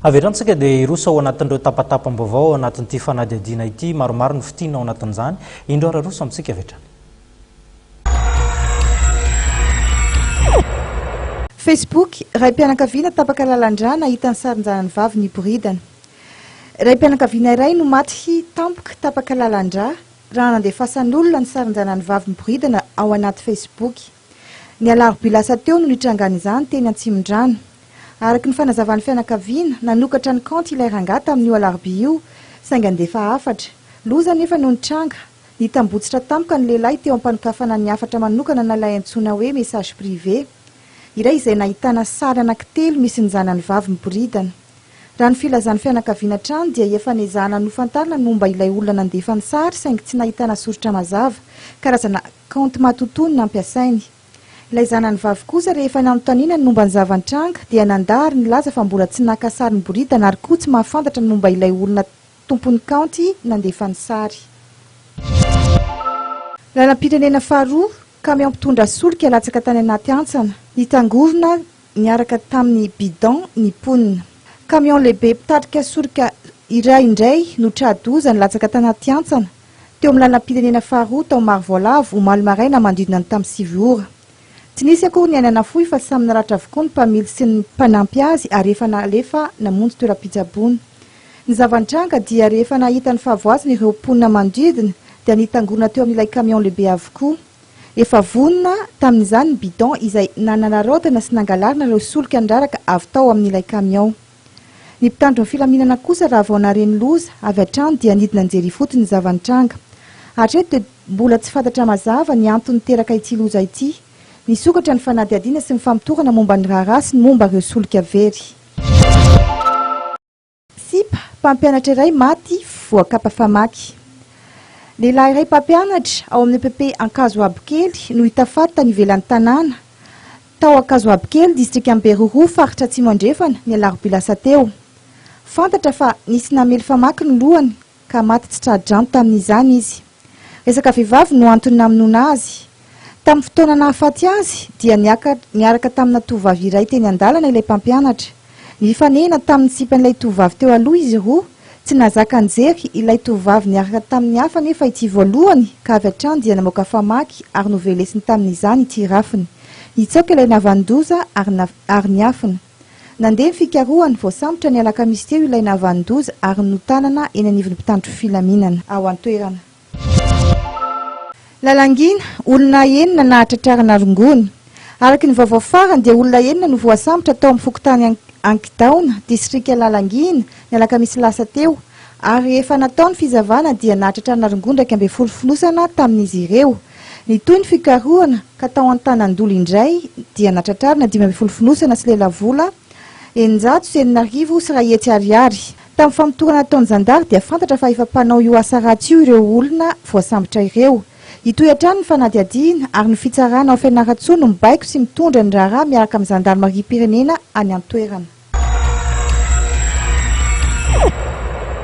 Avy eto antsika dia hiroso ao anatin'ireo tapatapam-baovao ao anatin'ity fanadihadiana ity. Maromaro ny fitina ao anatin'izany. Indro ary aroso amintsika avy hatrany. Facebook, Raim-pianakaviana tapaka lalan-drà nahita ny sarin-janany vavy niboridana. Raim-pianakaviana iray no maty tampoka tapaka lalan-drà raha nandefasan'olona ny sarin-janany vavy miboridana ao anaty Facebook. Ny alarobia lasa teo no nitrangan'izany teny Antsimondrano. Araka ny fanazavan'ny fianakaviana, nanokatra ny kaonty ilay rangahy tamin'io alarobia io, saingy handefa hafatra. Loza anefa no nitranga. Nitambotsitra tampoka ny lehilahy teo am-panokafana ny hafatra manokana na ilay antsoina hoe message privé iray izay nahitana sary anankitelo misy ny zanany vavy miboridana. Raha ny filazan'ny fianakaviana hatrany dia efa niezahana nofantarina ny momba ilay olona nandefa ny sary saingy tsy nahitana soritra mazava, karazana Kaonty matotoa no nampiasainy. Ilay zanany vavy kosa rehefa nanontaniana ny momba ny zava-nitranga dia nandà ary nilaza fa mbola tsy naka sary niboridana ary koa tsy mahafantatra ny momba ilay olona tompon'ny kaonty nandefa ny sary. Lalam-pirenena faharoa, kamiao mpitondra solika latsaka tany anaty hantsana, nitangorona. Niaraka tamin'ny bidon ny mponina. Kamiao lehibe mpitarika soroka iray indray no tra-doza nilatsaka tanaty hantsana teo amin'ny lalam-pirenena faharoa tao Marovoalavo omaly maraina manodidina ny tamin'ny sivy ora. Tsy nisy akory ny aina nafoy fa samy naratra avokoa ny mpamily sy ny mpanampy azy ary efa nalefa namonjy toeram-pitsaboana. Ny zava-nitranga dia rehefa nahita ny fahavoazana ireo mponina manodidina dia nitangorona teo amin'ilay kamiao lehibe avokoa. Efa vonona tamin'izany ny bidon izay nanararaotana sy nangalarina ireo solika niraraka avy tao amin'ilay kamiao. Ny mpitandro ny filaminana kosa raha vao nahare ny loza avy hatrany dia nidina nijery ifotony ny zava-nitranga. Hatreto dia mbola tsy fantatra mazava ny antony niteraka ity loza ity. Nisokatra ny fanadihadiana sy ny famotorana momba ny raharaha sy ny momba ireo solika very. Sipa, mpampianatra iray maty voakapa famaky. Lehilahy iray mpampianatra ao amin'ny epp Ankazoabokely no hita faty tany ivelan'ny tanàna, tao Ankazoabokely, distrikan'i Beroroha, faritra Atsimo Andrefana, ny alarobia lasa teo. Fantatra fa nisy namely famaky ny lohany ka maty tsy tra-drano tamin'izany izy. Resaka vehivavy no antony namonoana azy. Tamin'ny fotoana nahafaty azy dia niaka niaraka tamina tovovavy iray teny an-dalana ilay mpampianatra. Nifanehina tamin'ny sipan'ilay tovovavy teo aloha izy roa. Tsy nahazaka nijery ilay tovovavy niaraka tamin'ny hafa anefa ity voalohany ka avy hatrany dia namoaka famaky ary novelesiny tamin'izany ity rafiny. Nitsaoka ilay navanon-doza ary ary niafina. Nandeha ny fikarohana, voasambotra ny alakamisy teo ilay nahavanon-doza ary notanana eny anivon'ny mpitandro filaminana ao an-toerana. Lalangina, olona enina nahatratrarana rongony. Araka ny vaovao farany dia olona enina no voasambotra tao amin'ny fokontany Ankidaona, distrika Lalangina, ny alakamisy lasa teo. ary efa natao ny fizavana dia nahatratra an'aringoa iraika ambin'ny folo fonosana tamin'izy ireo. Nitohy ny fikarohana ka tao Antanandolo indray dia natratrarina dimy ambin'ny folo fonosana sy lelavola eninjato sy enina arivo sy iray hetsy ariary. Tamin'ny famotorana nataon'ny zandary dia fantatra fa efa mpanao io asa ratsy io ireo olona voasambotra ireo. Hitohy hatrany ny fanadihadiana ary ny fitsarana ao Fianarantsoa no mibaiko sy mitondra ny raharaha miaraka amin'ny zandarimariam-pirenena any an-toerana.